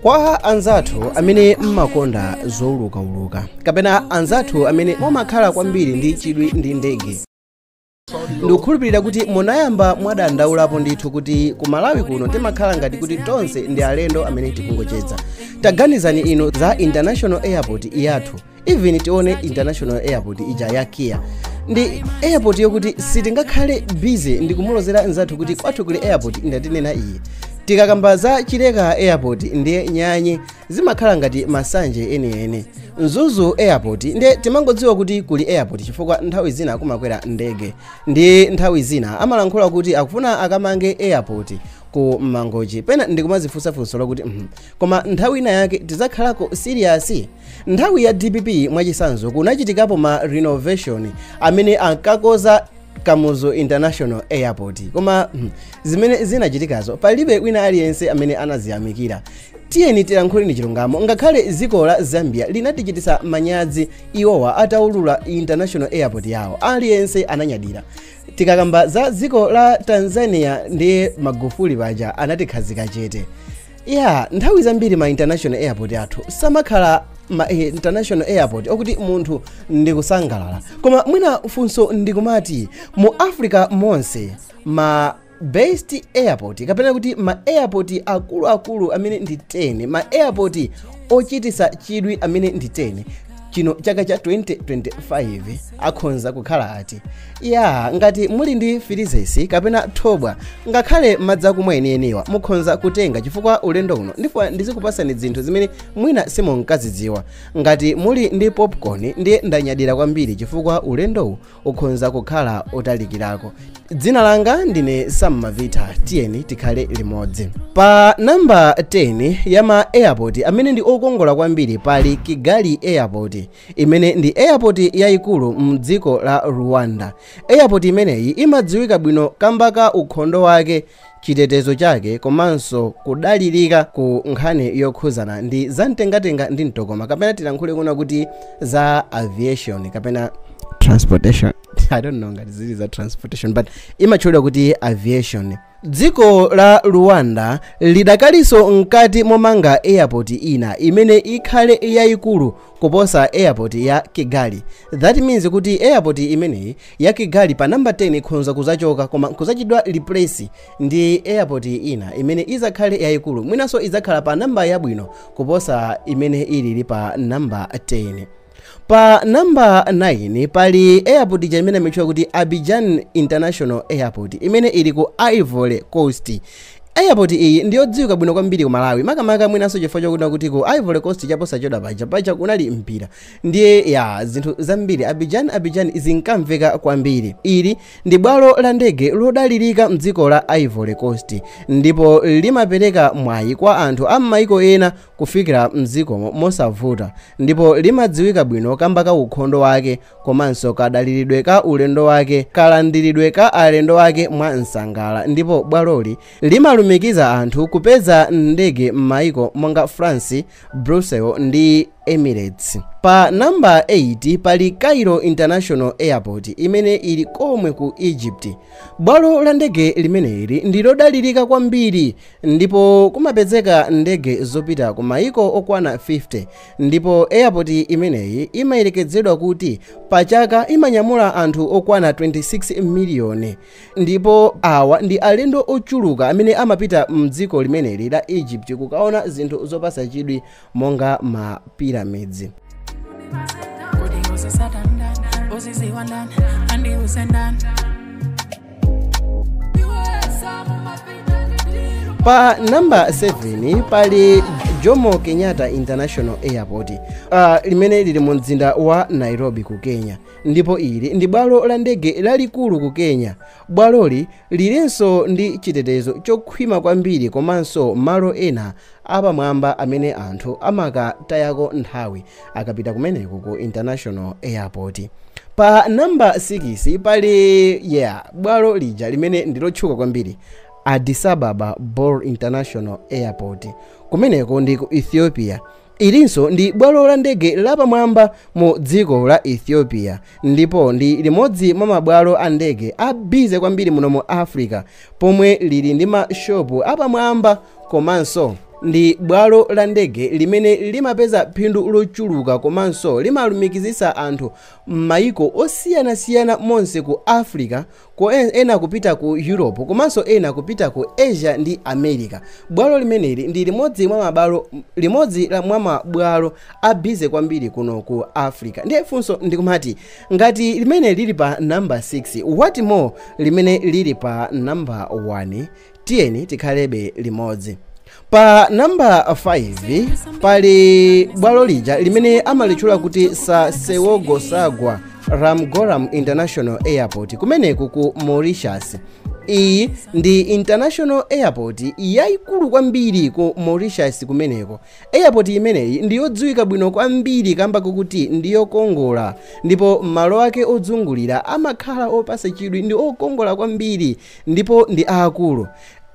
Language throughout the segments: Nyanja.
Kwa anzathu amene mmakonda zoulukauluka kapena anzathu amene mumakhala kwambiri ndi chidwi ndi ndege, ndikukhulupirira kuti munayamba mwadandaulapo ndithu kuti ku Malawi kuno timakhala ngati kuti tonse ndi alendo amene tikungocheza. Taganizani inu za International Airport yathu. even tione international airport ija ya kia ndi airport yokuti sitingakhale busy ndikumulozera nzathu kuti kwathu kuli airport ndatinena iyi tikakamba za chileka airport ndiye nyanye zimakhala ngati masanje enieni mzuzu airport ndiye timangodziwa kuti kuli airport chifukwa nthawi zina kumakwera ndege ndi nthawi zina amalankhula kuti akufuna akamange airport ku mangochi pena ndikumazifunsa funso lokuti mhm, koma nthawi ina yake tizakhalako serious Nthawi ya dpp mwachisanzo kunachitikapo ma renovation amene ankakoza Kamuzu International Airport koma hmm, zimene zinachitikazo palibe wina aliyense amene anaziyamikira tiyeni tilankhuleni chilungamo ngakhale dziko la zambia linatichitisa manyazi iwowa ataulula international airport yawo aliyense ananyadira tikakamba za dziko la tanzania ndiye magufuli paja anatikhazika chete ya nthawi zambiri ma international airport athu samakhala ma eh, international airport okuti munthu ndikusangalala koma mwina funso ndikumati mu africa monse ma best airport kapena kuti ma airport akuluakulu amene ndi 10 ma airport ochitisa chidwi amene ndi 10 chino chaka cha 2025 akhonza kukhala ati ya ngati muli ndi filizesi kapena thobwa ngakhale madzi akumwa enieniwa mukhonza kutenga chifukwa ulendo uno ndifuna ndizikupasani zinthu zimene mwina simunkazidziwa ngati muli ndi popcorn ndiye ndanyadira kwambiri chifukwa ulendowu ukhonza kukhala otalikirako dzina langa ndine sam mavita tiyeni tikhale limodzi pa namba 10 ya ma airport amene ndi okongola kwambiri pali kigali airport imene ndi airport yayikulu mdziko la rwanda airport imeneyi imadziwika bwino kamba ka ukhondo wake chitetezo chake komanso kudalirika ku nkhani yokhuzana ndi zamtengatenga ndi mtokoma kapena tilankhule kuna kuti za aviation kapena transportation i don't know ngati zili za transportation but imatchulidwa kuti aviation dziko la rwanda lidakalinso mkati momanga airport ina imene ikhale yayikulu kuposa airport ya Kigali that means kuti airport imeneyi ya Kigali pa number 10 ikhonza kuzachoka koma kuzachitidwa replace ndi airport ina imene izakhale yayikulu mwinanso izakhala pa namba yabwino kuposa imene ilili pa namba 10 pa namba 9 pali airport ija imene imatchedwa kuti abidjan international airport imene ili ku ivory coast Airport iyi ndiyodziwika bwino kwambiri ku Malawi makamaka mwinanso chifukwa chokuti kuti ku Ivory Coast chaposachedwa paja paja kunali mpira ndiye yaa zinthu zambiri Abidjan Abidjan zinkamveka kwambiri. Ili ndi bwalo la ndege lodalirika mdziko la Ivory Coast ndipo limapereka mwayi kwa anthu a mmayiko ena kufikira mdzikomo mosavuta ndipo limadziwika bwino kamba ka ukhondo wake komanso kadaliridwe ka ulendo wake, kalandiridwe ka alendo ake mwa msangala ndipo bwaloli limalumikiza anthu kupeza ndege m'maiko monga France, Brussels ndi Emirates. Pa namba 8 pali Cairo International Airport imene ili komwe ku Egypt. Bwalo la ndege limeneli ndi lodalirika kwambiri ndipo kumapezeka ndege zopita ku maiko okwana 50 ndipo airport imeneyi imayerekezedwa kuti pa chaka imanyamula anthu okwana 26 miliyoni ndipo awa ndi alendo ochuluka amene amapita mdziko limeneli la egypt kukaona zinthu zopasa chidwi monga ma pyramids pa namba 7 pali jomo kenyatta international airport uh, limene lili mu mzinda wa nairobi ku kenya ndipo ili ndi bwalo la ndege lalikulu ku kenya bwaloli lilinso ndi chitetezo chokhwima kwambiri komanso malo ena apamwamba amene anthu amakatayako nthawi akapita kumeneko ku international airport pa namba 6 pali yeah bwalo lija limene ndilotchuka kwambiri addis ababa bole international airport kumeneko ndi ku ethiopia ilinso ndi bwalo la ndege lapamwamba mu dziko la ethiopia ndipo ndi limodzi mwa mabwalo a ndege a busy kwambiri muno mu africa pomwe lili ndi mashopu apamwamba komanso ndi bwalo la ndege limene limapeza phindu lochuluka komanso limalumikizitsa anthu m'mayiko osiyanasiyana monse ku africa ko ena kupita ku europe komanso ena kupita ku asia ndi america bwalo limeneli ndi limodzi mwa mabwalo a busy kwambiri kuno ku africa ndiye funso ndikumati ngati limene lili pa namba 6 what more limene lili pa namba 1 tiyeni tikhalebe limodzi pa namba 5 pali bwalo lija limene amalitchula kuti sir seewoosagur ramgoolam international airport kumeneko ku mauritius iyi ndi international airport yayikulu kwambiri ku mauritius kumeneko airport imeneyi ndi yodziwika bwino kwambiri kamba kakuti ndi yokongola ndipo malo ake odzungulira amakhala opasa chidwi ndi okongola kwambiri Ndipo ndi aakulu.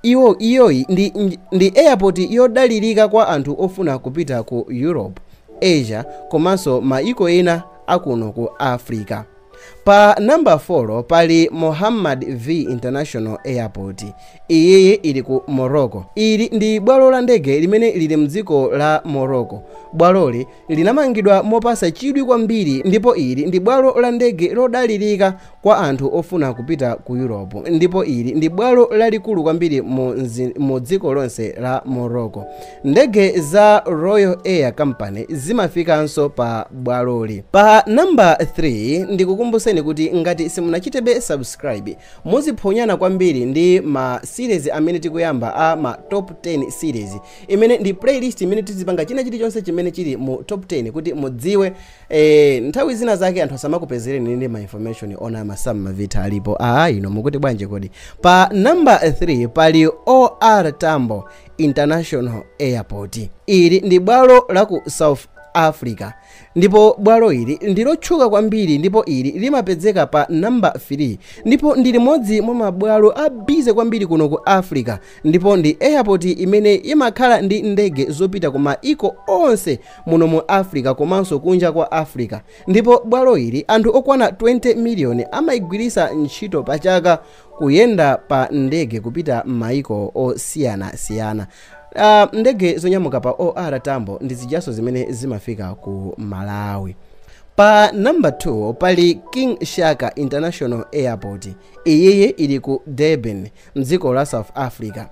Iwo, iyoyi ndi, ndi airport yodalirika kwa anthu ofuna kupita ku Europe, Asia, komanso mayiko ena a kuno ku Africa. Pa namba 4 pali Mohammad V International Airport. Iyiyi ili ku Morocco. Ili ndi bwalo la ndege limene lili m'dziko la Morocco. Bwaloli Linamangidwa mopasa chidwi kwambiri ndipo ili ndi bwalo la ndege lodalirika kwa anthu ofuna kupita ku Europe ndipo ili ndi bwalo lalikulu kwambiri mu mu dziko lonse la Morocco. Ndege za Royal Air Company zimafikanso pa bwaloli. Pa number 3 ndikukumbuseni kuti ngati simunachitebe subscribe muziphonyana kwambiri ndi ma series amene tikuyamba a ma top 10 series imene ndi playlist imene tizipanga china chilichonse chimene chili mu top 10 kuti mudziwe eh, nthawi zina zake anthu asamakupezereni ndi ma information onama, masamavitha alipo aa ino mukuti bwanje kodi pa number 3 pali or tambo international airport ili ndi bwalo la ku south africa ndipo bwalo ili ndilotchuka kwambiri ndipo ili limapezeka pa namba 3 ndipo ndi limodzi mwa mabwalo abize kwambiri kuno ku africa ndipo ndi airport imene imakhala ndi ndege zopita ku maiko onse muno mu africa komanso kunja kwa africa ndipo bwalo ili anthu okwana 20 miliyoni amaigwiritsa ntchito pa chaka kuyenda pa ndege kupita m'maiko osiyanasiyana uh, ndege zonyamuka pa or tambo ndi zijaso zimene zimafika ku malawi pa namba 2 pali king shaka international airport iyiyi ili ku durban M'dziko la South Africa,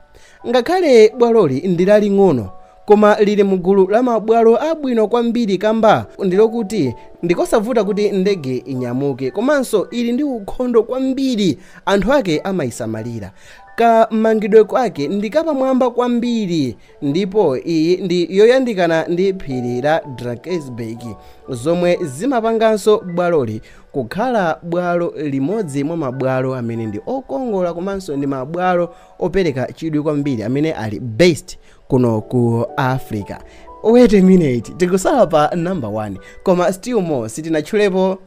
ngakhale bwaloli ndi laling'ono, koma lili mu gulu la mabwalo abwino kwambiri kamba ndi lokuti ndi kosavuta kuti ndege inyamuke komanso ili ndi ukhondo kwambiri, anthu ake amaisamalira, kamangidwe kwake ndi kapamwamba kwambiri ndipo iyi ndi yoyandikana ndi phiri la drakensberg zomwe zimapanganso bwaloli kukhala bwalo limodzi mwa mabwalo amene ndi okongola komanso ndi mabwalo opereka chidwi kwambiri amene ali based kuno ku africa wait a minute tikusala pa number 1 koma still more sitinatchulepo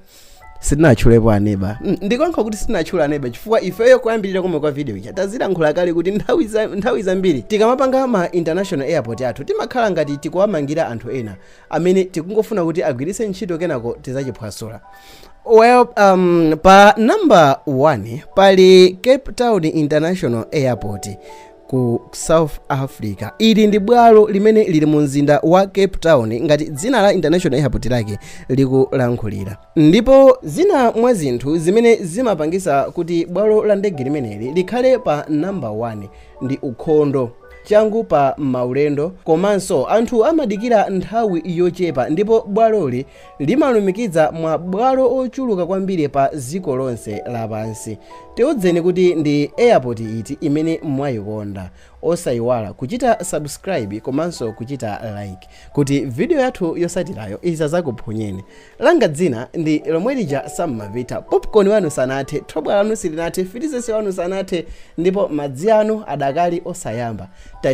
sitinatchulepo aneba Mm, ndikonkha kuti sitinatchula aneba chifukwa ifeyo kuyambirira komwe kwa video ija tazilankhula kale kuti nthawi za- nthawi zambiri tikamapanga ma international airport athu timakhala ngati tikuwamangira anthu ena amene tikungofuna kuti agwiritse ntchito kenako tizachiphwasula well um, pa number 1 pali cape town international airport ku south africa ili ndi bwalo limene lili mu mzinda wa cape town ngati dzina la international airport lake likulankhulira ndipo zina mwa zinthu zimene zimapangisa kuti bwalo la ndege limeneli likhale pa namba 1 ndi ukhondo changu pa maulendo komanso anthu amadikira nthawi yochepa ndipo bwaloli Limalumikiza ma bwalo ochuluka kwambiri pa ziko lonse lapansi. Tiuzeni kuti ndi airport iti imene mwaikonda. Osaiwala kuchita subscribe komanso kuchita like kuti video yathu yosatirayo isazakuphonyeni. Langa dzina ndi lomwelija Sam Mavitha. Popcorn wanu sanathe, thobwa lanu silinathe, filizense wanu sanathe ndipo madzi anu adakali osayamba.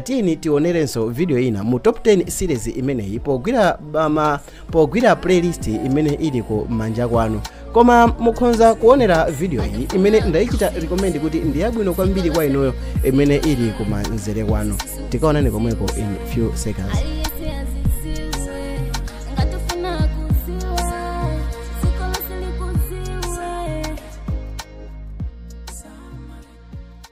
Tiyeni tionerenso video ina mu top 10 series imeneyi pogwira bama pogwira playlist imene ili ku manja kwanu koma mukhonza kuonera video iyi imene ndayichita recommend kuti ndi yabwino kwambiri kwa inuyo imene ili ku manzere kwanu tikaonane komweko in few seconds